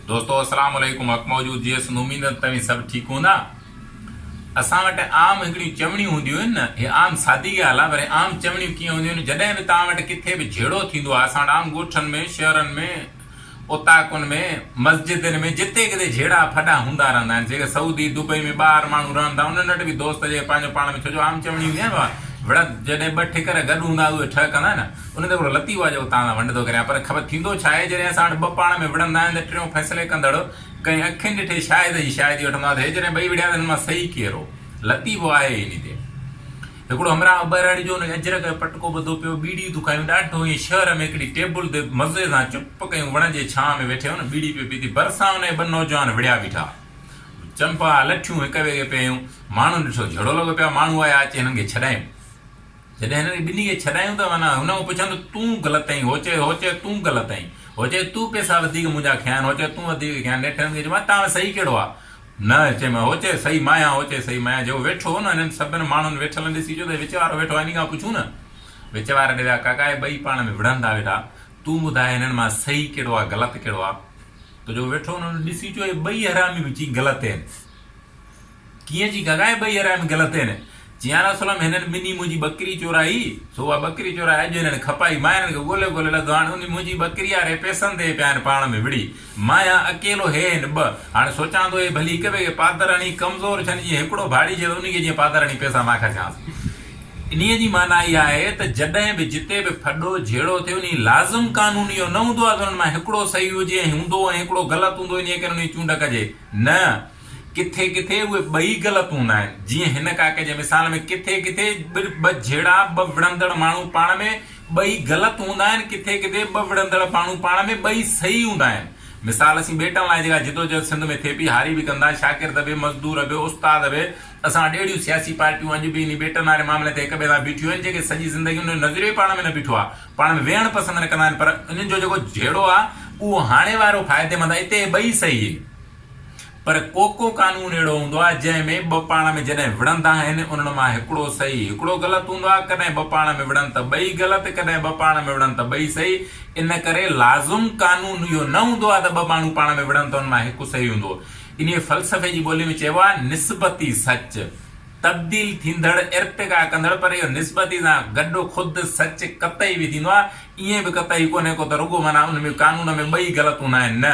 دوستو السلام عليڪم حق موجود جيئي سنڌ اميد توهين سڀ ٺيڪ هوندا اسان وٽ عام هڪڙيون چوڻيون هونديون آهن نه هي عام سادي ڳالهه آهي پر عام چوڻيون ڪيئن هونديون آهن جڏهن به توهان وٽ ڪٿي به جهيڙو ٿيندو آهي اسان وٽ عام ڳوٺن ۾ شهرن ۾ اوطاقن ۾ مسجدن ۾ جتي ڪٿي جهيڙا ڦڏا هوندا رهندا آهن جيڪي سعودي دبئي ۾ ٻاهر ماڻهو رهن ٿا انهن وٽ به دوست جيڪي پنهنجو پاڻ ۾ ڇو جو عام چوڻي هوندي آهي نه وڙت جڏهن ٻه ٺڪر گڏ هوندا اهي ٺهه ڪندا نه ان تي هڪڙو لطيفو آهي جيڪو توهان سان ونڊ ٿو ڪريان پر خبر ٿيندو ڇا آهي جڏهن اسان وٽ ٻه پاڻ ۾ وڙهندا آهن ته ٽيون فيصلي ڪندڙ ڪنهن اکين ڏٺي شاهد جي شاهدي وٺندو آهي ته هي جڏهن ٻئي وڙهيا ته هنن مان صحيح ڪير هو؟ لطيفو آهي ئي انهي تي. هڪڙو همراهه ٻهراڙي جو ان کي اجرڪ جو پٽڪو ٻڌو پيو ٻيڙيون ٿيون کايون ڏاڍو ائين شهر ۾ هڪڙي ٽيبل تي مزي سان چپ ڪيون وڻ جي ڇانء ۾ ويٺي هن ٻيڙي پيو پيتي ڀرسان ان کي ٻه نوجوان وڙهيا بيٺا چنپا لٺيون هڪ ٻئي کي پيا هنيون ماڻهن ڏٺو جهڙو لڳو پيا ماڻهو آيا اچي هنن کي ڇڏايون. جڏهن هنن کي ٻنهي کي ڇڏايون ته معنيٰ هن هو پڇيو ته تون غلط ائين هو چيو هو چيو تون غلط ائين هو چيو تون پيسا وڌيڪ منهنجا کنيا آهن هو چيو تون وڌيڪ کنيا نيٺ هنن کي چيومانس تان صحيح ڪهڙو آهي نه چيم هو چيو صحيح مان آهيان هو چيو صحيح مان آهيان جيڪو ويٺو هو نه هنن سڀن ماڻهن ويٺلن ڏسي چيو ته هي وچ وارو ويٺو آهي هن کان پڇون نه وچ واري ڏي ويا ڪاڪا هي ٻئي پاڻ ۾ وڙهن ٿا ويٺا تون ٻڌاء هنن مان صحيح ڪهڙو آهي غلط ڪهڙو آهي ته جيڪو ويٺو هو نه هن ڏسي چيو هي ٻئي حرامي به چئين غلط ائين. ڪيئن جي گهگائي ٻئي هرائم گلتين، چي يا رسول الله هنن ٻنهي منهنجي ٻڪري چورائي، سو اها ٻڪري چورائي اڄ هنن کپائي، مان هنن کي ڳولي ڳولي لڌو، هاڻ انهي منهنجي ٻڪري واري پئسن تي پيا هن پاڻ ۾ وڙهي، مان هيان اڪيلو هي هن ٻه، هاڻ سوچان ٿو اهي ڀلي هڪ ٻئي کي پادر هڻي ڪمزور ڇن جيئن هڪڙو ڀاڙيجي ته انهي کي جيئن پادر هڻي پئسا مان خرچانس. انهي جي معنيٰ اها آهي ته جڏهن به جتي به ڦڏو جهيڙو ٿئي انهي لازم قانون اهو نه هوندو آهي ته انهن مان هڪڙو صحيح هجي ۽ هوندو ۽ هڪڙو غلط هوندو انهي ڪري انهي جي چونڊ ڪجي نه ڪٿي ڪٿي اهي ٻئي غلط هوندا آهن. جيئن هن ڪاڪي جي مثال ۾ ڪٿي ڪٿي ٻه جهيڙا، ٻه وڙهندڙ ماڻهو پاڻ ۾ ٻئي غلط هوندا آهن، ڪٿي ڪٿي ٻه وڙهندڙ ماڻهو پاڻ ۾ ٻئي صحيح هوندا آهن. مثال اسين ٻيٽن لاء جيڪا جدوجهد سنڌ ۾ ٿئي پئي، هاري به ڪندا، شاگرد به، مزدور به، استاد به، اسان وٽ اهڙيون سياسي پارٽيون اڄ به انهي ٻيٽن واري معاملي تي هڪ ٻئي سان بيٺيون آهن، جيڪي سڄي زندگي انهن جو نظريو ئي پاڻ ۾ نه بيٺو آهي، پاڻ ۾ ويهڻ پسند نه ڪندا آهن پر انهن جو جيڪو جهيڙو آهي اهو هاڻي وارو فائديمند آهي، اتي اهي ٻئي صحيح آهن. پر ڪوڪو قانون اهڙو هوندو آهي جنهن ۾ ٻه پاڻ ۾ جڏهن وڙهندا آهن انهن مان هڪڙو صحيح هڪڙو غلط هوندو آهي ڪڏهن ٻه پاڻ ۾ وڙهن ته ٻئي غلط ڪڏهن ٻه پاڻ ۾ وڙهن ته ٻئي صحيح ان ڪري لازم قانون اهو نه هوندو آهي ته ٻه ماڻهو پاڻ ۾ وڙهن ته انهن مان هڪ صحيح هوندو انهيء فلسفي جي ٻولي ۾ چئبو آهي نسبتي سچ تبديل ٿيندڙ ارتقا ڪندڙ پر اهو نسبتي سان گڏ خود سچ قطعي به ٿيندو آهي ائين به قطعي ڪونهي ڪو ته رڳو معنيٰ ان ۾ قانون ۾ ٻئي غلط هوندا آهن نه